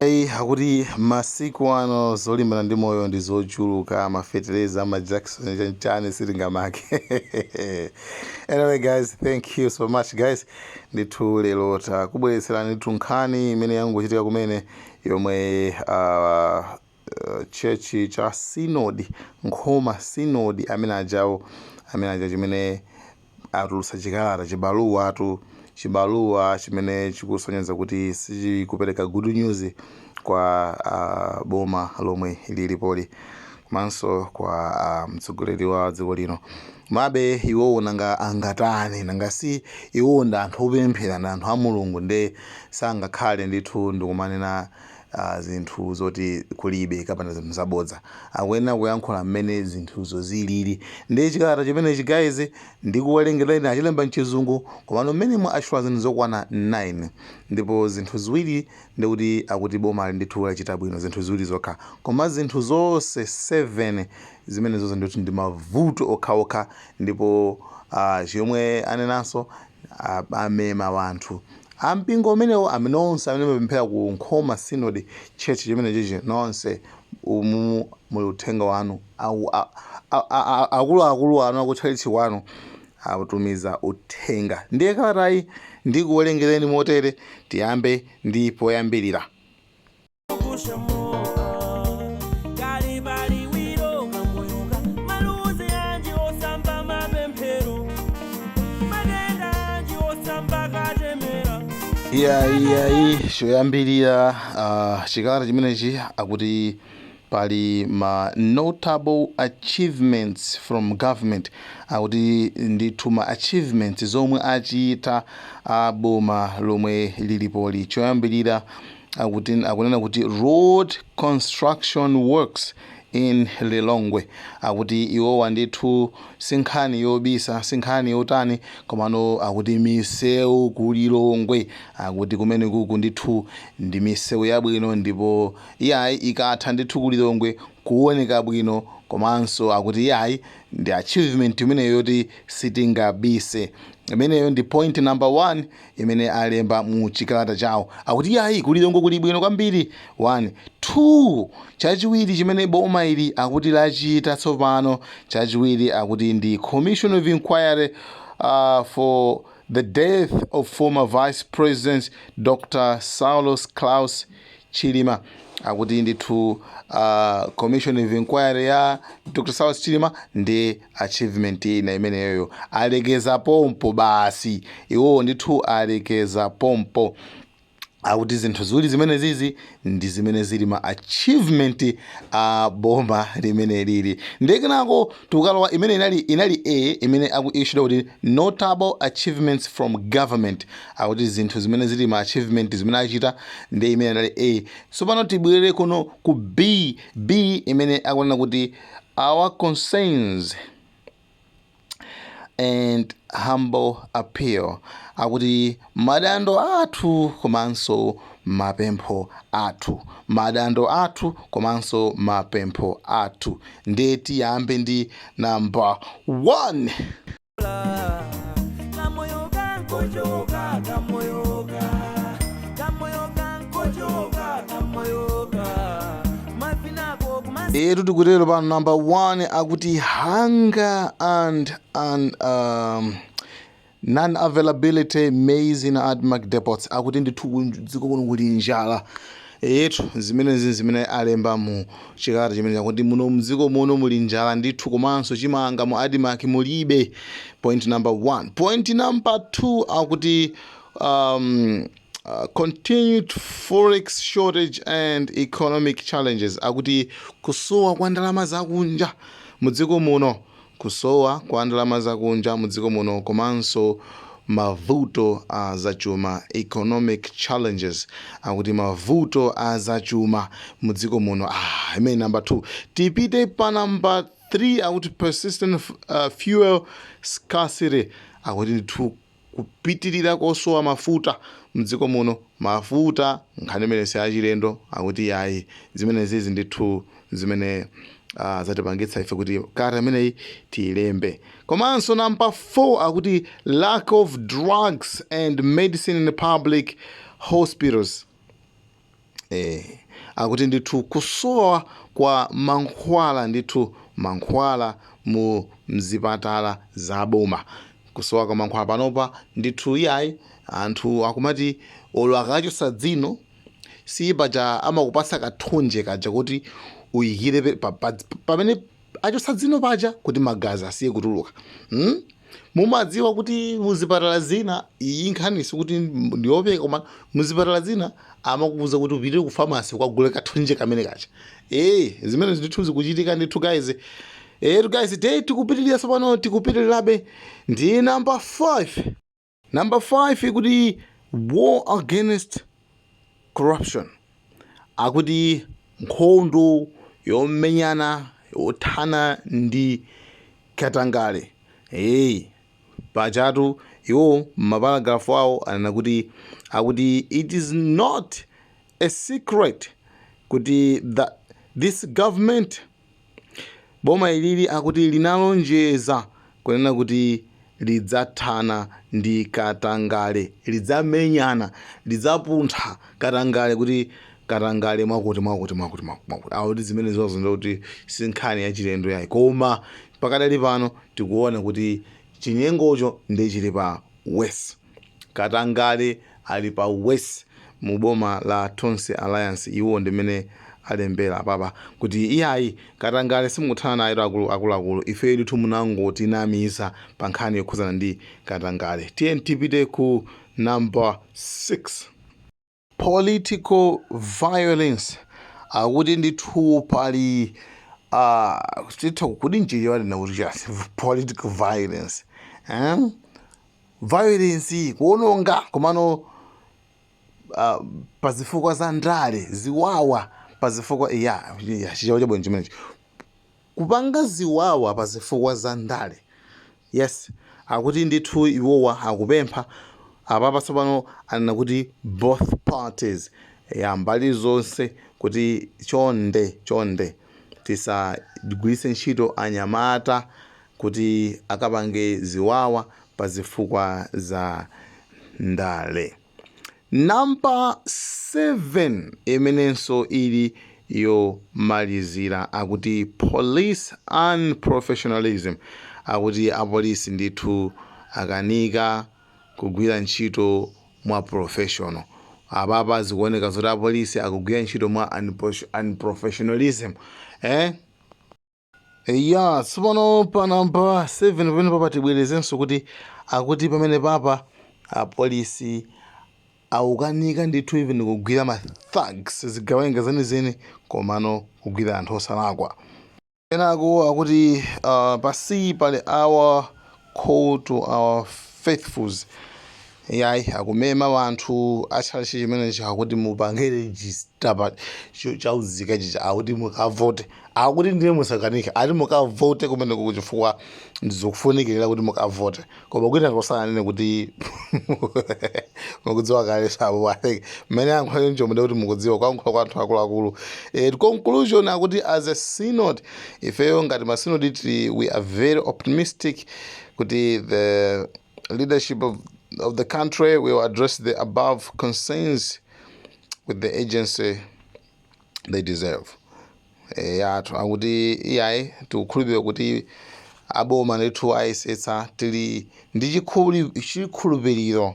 Iye akuti masiku ano zolimbana ndi moyo ndi zochuluka, mafetereza, majakisoni, chanichani sitingamange. anyway guys, thank you so much guys. Ndithu lero takubweretserani ndithu nkhani imene yangochitika kumene yomwe uh, church cha synod nkhoma synod amene ajawo amene ajawo chimene atulutsa chikalata, chibaluwatu, chibaluwa chimene chikusonyeza kuti sichikupereka good news kwa a, boma lomwe lilipoli komanso kwa a, mtsogoleri wa dziko lino mabe iwowo nanga angatani nanga si iwowo ndi anthu opemphera ndi anthu a mulungu nde sangakhale ndithu ndikumanena zinthu zoti kulibe kapena zinthu zabodza. Akuyenera kuyankhula mmene zinthuzo zilili. Ndiye chikalata chimenechi guys ndikuwerengereni achilemba mchizungu komano mmenemo atchula zinthu zokwana 9 ndipo zinthu ziwiri ndekuti akuti bomali ndithu lachita bwino zinthu ziwiri zokha koma zinthu zonse 7 zimenezozo ndithu ndi mavuto okhaokha ndipo chomwe anenanso Amema wanthu a mpingo umenewo, amene nonse amene mumapemphera ku Nkhoma Synod Church, chimenechichi, nonse umu muli uthenga wanu, a, a, a, a, a, akuluakulu anu a ku tchalitchi kwanu atumiza uthenga. Ndiye kalatayi ndikuwerengereni motere, tiyambe ndi poyambirira. iyayi iyayi choyambirira uh, chikalata chimenechi akuti pali ma notable achievements from government akuti ndithu ma achievements zomwe achita a boma lomwe lilipoli choyambirira akunena kuti road construction works in lilongwe akuti iwowa ndithu sinkhani yobisa sinkhani yotani komano akuti misewu ku lilongwe akuti kumene kuku ndithu ndi misewu yabwino ndipo iyayi ikatha ndithu ku lilongwe kuoneka bwino komanso akuti iyayi ndi achievement imeneyo yoti sitingabise imeneyo ndi point number one imene alemba mu chikalata chawo akuti iyayi ku lilongwe kuli bwino kwambiri 1 2 chachiwiri chimene boma ili akuti lachita tsopano chachiwiri akuti ndi commission of inquiry uh, for the death of former vice president dr saulos klaus Chilima akuti ndithu commission of inquiry ya Dr Saulos Chilima ndi achievement ina imeneyoyo alekeza pompo basi iwowo ndithu alekeza pompo akuti zinthu ziwiri zimenezizi ndi zimene zili ma achievement a boma limeneli ndiye kenako tukalowa imene inali a imene akuitchula kuti notable achievements from government akuti zinthu zimene zili ma achievement zimene achita ndiye imene inali a tsopano tibwerere kuno ku b b imene akunena kuti our concerns and humble appeal akuti Madando athu komanso mapempho athu. Madando athu komanso mapempho athu. Nde tiyambe ndi number 1. Etu tikutero pa number 1 akuti hunger and and um, Non availability maize in admarc depots akuti ndithu dziko muno kuli njala eyetu zimenezizi zimene alemba mu chikalata chimenechi akuti muno mdziko muno muli njala ndithu komanso chimanga mu admarc mulibe point number one point number two akuti um, Uh, continued forex shortage and economic challenges akuti kusowa kwa ndalama zakunja mu dziko muno Kusowa kwa ndalama zakunja mu dziko muno komanso mavuto a zachuma, economic challenges, akuti mavuto a zachuma mu dziko muno aah imeneyi number 2 tipite pa number 3 akuti persistent fuel scarcity akuti ndithu Kupitirira kosowa mafuta mdziko muno, mafuta nkhani imene si yachilendo akuti yayi zimenezizi ndithu zimene zatipangitsa ife kuti kalata imeneyi tiyilembe. Komanso number 4 akuti lack of drugs and medicine in public hospitals. Eh, akuti ndithu kusowa kwa mankhwala ndithu mankhwala mu mzipatala za boma kusowa kwa mankhwala panopa ndithu iyayi anthu akumati olo akachotsa dzino si paja amakupasa kathonje kaja kuti uyikire pa, pa, pa, pamene achotsa dzino paja kuti magazi asiye kutuluka hmm? mumadziwa kuti muzipatala zina iyi nkhani sikuti ndiyopeka koma muzipatala zina amakuuza kuti upitenso ku famasi ukagule kathonje kamene kaja ee eh, zimenezi ndithu zikuchitika ndithu guys etu eh, guys te tikupitirira tsopano tikupitirirabe ndi namba 5 Number 5 ikuti war against corruption. Akuti nkhondo yomenyana yothana ndi katangale. Hey, pachatu iwo m'maparagrafu awo anena kuti akuti it is not a secret kuti the, this government Boma ilili akuti linalonjeza kunena kuti lidzathana ndi katangale, lidzamenyana, lidzapuntha katangale kuti katangale mwakuti mwakuti mwakuti mwakuti akuti zimenezozo ndiye kuti si nkhani yachilendo yayi koma pakadali pano tikuona kuti chinyengocho ndiye chili pa worse. Katangale ali pa worse mu boma la Tonse Alliance iwo ndi mmene alembera apapa kuti iyayi katangale simukuthana nayetu akulu akuluakulu ifeyo ndithu munangotinamiza pa nkhani yokhuzana ndi katangale. Tiyeni tipite ku number 6. Political violence akuti ndithu pali uh, titha kuti mchichewa ndinena kuti chani political violence eh? violence kuononga komano uh, pa zifukwa za ndale ziwawa pa zifukwa ya ya chichewa chabwino chimenechi Kupanga ziwawa pa zifukwa za ndale. Yes, akuti ndithu iwowa akupempha, apapa tsopano anena kuti both parties, eya mbali zonse kuti chonde, chonde tisagwiritse ntchito anyamata kuti akapange ziwawa pa zifukwa za ndale. Namba 7 imenenso ili yomalizira akuti police unprofessionalism akuti apolisi ndithu akanika kugwira ntchito mwa professional. Apapa zikuoneka zoti apolisi akugwira ntchito mwa unprofessionalism. Eh? Eya, tsopano pa namba 7 pamenepapa tibwerezenso kuti akuti pamenepapa apolisi akukanika ndithu even kugwira ma thugs zigawenga zenizeni komano kugwira anthu osalakwa kenako akuti uh, pansi pali our Call to our faithfuls iyayi akumema anthu a chalichi chimenechi akuti mupange register pa cho- cha unzika chija akuti mukavote akuti ndiye musakanike ati mukavote kumeneko chifukwa ndi zofunikira kuti mukavote koma kwina sananene kuti mukudziwa kale sabo atenge mmene ankhulire njomude kuti mukudziwa kuyankhula kwa anthu akuluakulu eh, conclusion akuti as a synod ifeyo ngati ma sinodi, we are very optimistic kuti the leadership of, of the country will address the above concerns with the urgency they deserve e, yathu akuti iyayi tikukhulupirira kuti aboma ndithu ayesetsa tili ndi chikhuli- chikhulupiriro